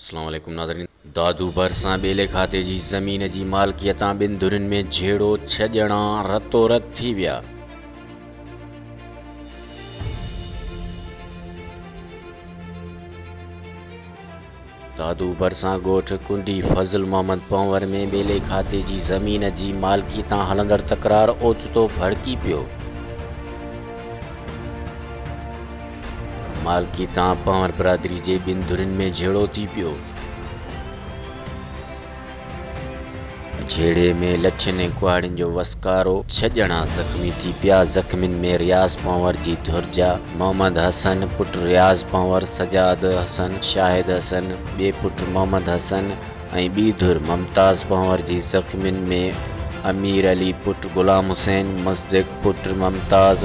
اسلام عليڪم ناظرين دادو ڀرسان ٻيلي کاتي جي زمين جي مالڪيتان ٻن ڌرين ۾ جھيڙو ڇھ ڄڻا رتو رت ٿي ويا دادو ڀرسان ڳوٺ ڪنڊي فضل محمد پنور ۾ ٻيلي کاتي جي زمين جي مالڪي تان هلندڙ تڪرار اوچتو ڀڙڪي پيو مالڪي تان پنهور برادري جي ٻن ڌرين ۾ جهيڙو ٿي پيو. جهيڙي ۾ لٺين ۽ ڪهاڙين جو وسڪارو، ڇهه ڄڻا زخمي ٿي پيا، زخمين ۾ رياض پنهور جي ڌر جا محمد حسن، پٽ رياض پنهور، سجاد حسن، شاهد حسن، ٻئي پٽ محمد حسن، ۽ ٻي ڌر ممتاز پنهور جي زخمين ۾ امير علي پٽ غلام حسين، مصدق پٽ ممتاز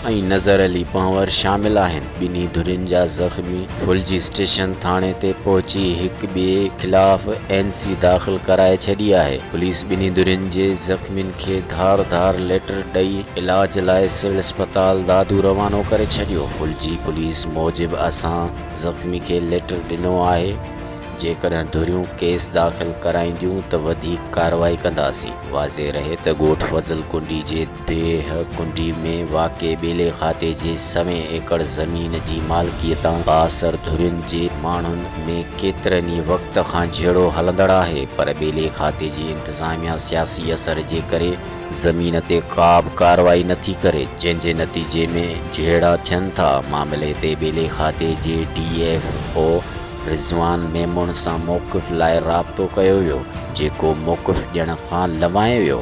۽ نظر علي پنهور شامل آهن. ٻنهي ڌرين جا زخمي ڦلجي اسٽيشن ٿاڻي تي پهچي هڪ ٻئي خلاف اين سي داخل ڪرائي ڇڏي آهي. پوليس ٻنهي ڌرين جي زخمين کي ڌار ڌار ليٽر ڏئي علاج لاء سول اسپتال دادو روانو ڪري ڇڏيو. ڦلجي پوليس موجب اسان زخمي کي ليٽر ڏنو آهي. جيڪڏهن ڌريون ڪيس داخل ڪرائينديون ته وڌيڪ ڪارروائي ڪنداسين. واضح رهي ته ڳوٺ فضل ڪنڊي جي ديهه ڪنڊي ۾ واقع ٻيلي کاتي جي سوين ايڪڙ زمين جي مالڪيء تان بااثر ڌرين جي ماڻهن ۾ ڪيترن ئي وقت کان جهيڙو هلندڙ آهي پر ٻيلي کاتي جي انتظاميا سياسي اثر جي ڪري زمين تي ڪابه ڪارروائي نٿي ڪري جنهن جي نتيجي ۾ جهيڙا ٿين ٿا معاملي تي ٻيلي کاتي جي D F O Rizwan Memon سان موقف لاء رابطو ڪيو ويو، جيڪو موقف ڏيڻ کان لنوائي ويو.